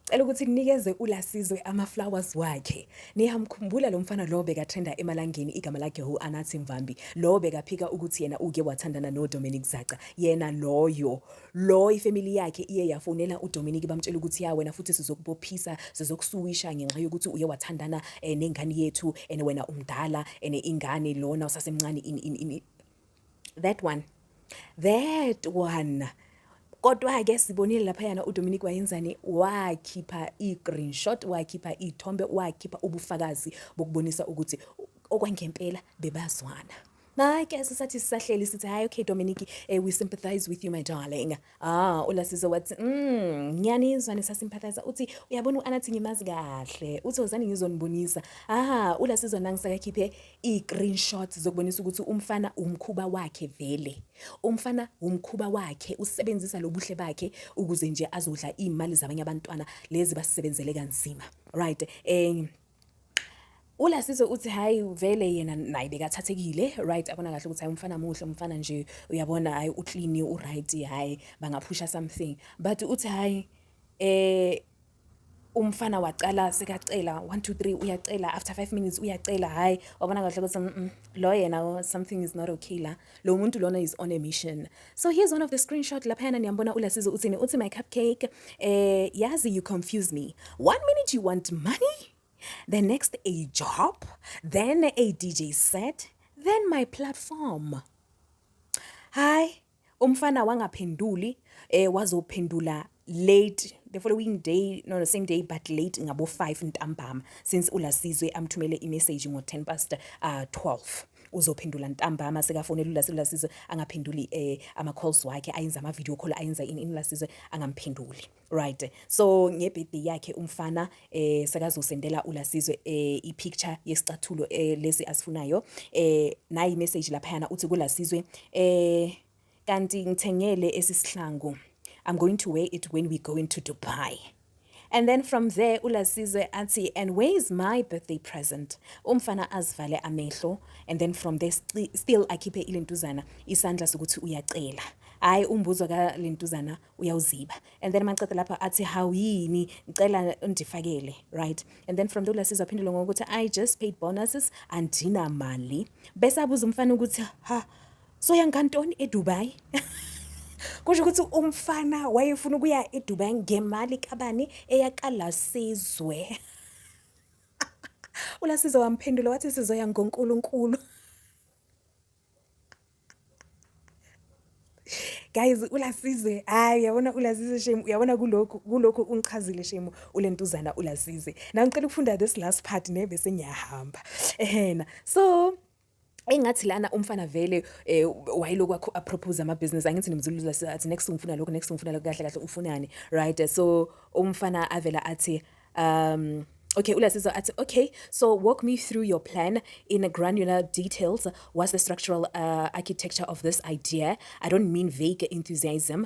Cela ukuthi ninikeze uLasizwe ama-flowers wakhe. Niyamkhumbula lo mfana lo bekatrenda emalangeni igama lakhe hu Anathi Mvambi. Lo bekaphika ukuthi yena uke wathandana noDominic Zaca. Yena loyo. Lo ifamily yakhe iye yafonela uDominic bamtshela ukuthi ya wena futhi sizokubophisa, sizokusuwisha ngenxa yokuthi uye wathandana eh, nengane yethu and wena umdala and ingane lona usasemncane in, in, in, that one that one kodwa-ke sibonile laphayana udominic wayenzani wakhipha i-green shot wakhipha iy'thombe wakhipha ubufakazi bokubonisa ukuthi okwangempela bebazwana Hayi ke sisathi sisahleli sithi hayi okay Dominic eh, we sympathize with you my darling. Ah, uLasizo wathi, mm, ngiyanizwa nisasimphalaza. Uthi uyabona uAnathi ngimazi kahle. Uthi wozani ngizonibonisa. Ah, uLasizo nangisakakhiphe i-screenshot zokubonisa ukuthi umfana umkhuba wakhe vele. Umfana umkhuba wakhe usebenzisa lobuhle bakhe ukuze nje azodla imali zabanye abantwana lezi basebenzele kanzima. Right. Eh ulasise uthi hayi vele yena naye bekathathekile right abona kahle ukuthi hayi umfana muhle umfana nje uyabona hayi uclean uright hayi bangaphusha something but uthi hayi eh umfana wacala sekacela 1 2 3 uyacela after 5 minutes uyacela hayi wabona kahle ukuthi lo yena something is not okay la lo muntu lona is on a mission So here's one of the screenshot laphayana niyambona uLasizo uthini uthi my cupcake eh yazi you confuse me. One minute you want money, the next a job, then a DJ set, then my platform. Hi, umfana wangaphenduli eh wazophendula late the following day no the same day but late ngabo 5 ntambama since ulasizwe amthumele i message ngo 10 past uh 12 uzophendula ntambama sekafonela ulasizwe angaphenduli eh ama calls wakhe ayenza ama video call ayenza in ulasizwe angamphenduli right so nge birthday yakhe umfana eh sekazosendela ulasizwe eh i picture yesicathulo eh lesi asifunayo eh nayi message lapha yana uthi kulasizwe eh Kanti ngithengele esisihlangu. I'm going to wear it when we go into Dubai. And then from there uLasizwe athi and where is my birthday present? Umfana azivale amehlo and then from there still akhiphe ilentuzana isandla sokuthi uyacela. Hayi umbuzo ka lentuzana uyawuziba. And then maqeda lapha athi how yini ngicela undifakele, right? And then from there uLasizwe aphendula ngokuthi I just paid bonuses andina mali. Bese abuza umfana ukuthi ha so yangantoni edubai kusho ukuthi umfana wayefuna ukuya edubai ngemali kabani eyakalasizwe ulasizwe wamphendula wathi sizoya ngonkulunkulu guys ulasize hayi uyabona ulasize shame uyabona kulokhu kulokhu ungichazile shame ulentuzana ulasize now ngicela ukufunda this last part nebe sengiyahamba ehena so engathi lana umfana vele eh, wayilokhu akho apropose ama business angithi nimzulula sathi next ngifuna lokho next ngifuna lokho kahle kahle ufunani right so umfana avela athi um Okay, uLasizo athi okay, so walk me through your plan in a granular details. What's the structural uh, architecture of this idea? I don't mean vague enthusiasm,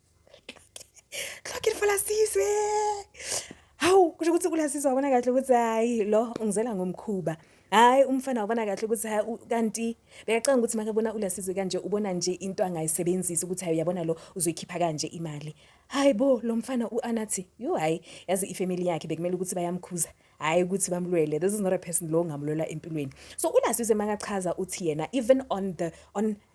Hlokile falasizwe. Hawu kusho ukuthi kulasizwe wabona kahle ukuthi hayi lo ungizela ngomkhuba. Hayi umfana wabona kahle ukuthi hayi u- kanti bekacanga ukuthi makabona ulasizwe kanje ubona nje into angayisebenzisa ukuthi hayi uyabona lo uzoyikhipha kanje imali. Hayi bo lo mfana uAnathi yo hayi yazi ifamily yakhe bekumele ukuthi bayamkhuza. Hayi ukuthi bamlwele this is not a person lo ongamlwela empilweni. So ulasizwe makachaza uthi yena even on the on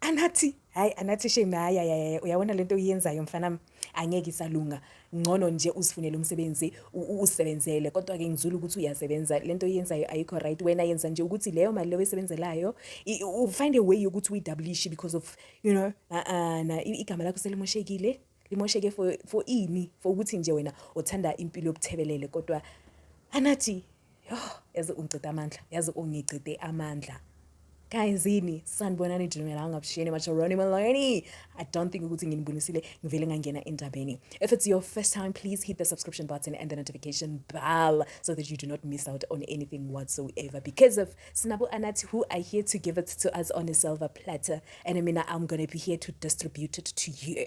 anathi hayi anathi shame hayi hayi uyabona lento oyenzayo mfana angeke isalunga ngcono nje usifunele umsebenzi usebenzele kodwa ke ngizula ukuthi uyasebenza lento oyenzayo ayikho right wena yenza nje ukuthi leyo mali leyo esebenzelayo u find a way yokuthi uyidablish because of you know uh, uh, na igama lakho selimoshekile limosheke for for ini for ukuthi nje wena uthanda impilo yobuthebelele kodwa anathi yo yazi ungicede amandla yazi ungicede amandla guys yini sanibonani dinela angabishiyeni macharoni maloni i don't think ukuthi nginibonisile ngivele ngangena endabeni if it's your first time please hit the subscription button and the notification bell so that you do not miss out on anything whatsoever because of sinabo anathi who are here to give it to us on a silver platter and mina i'm gonna be here to distribute it to you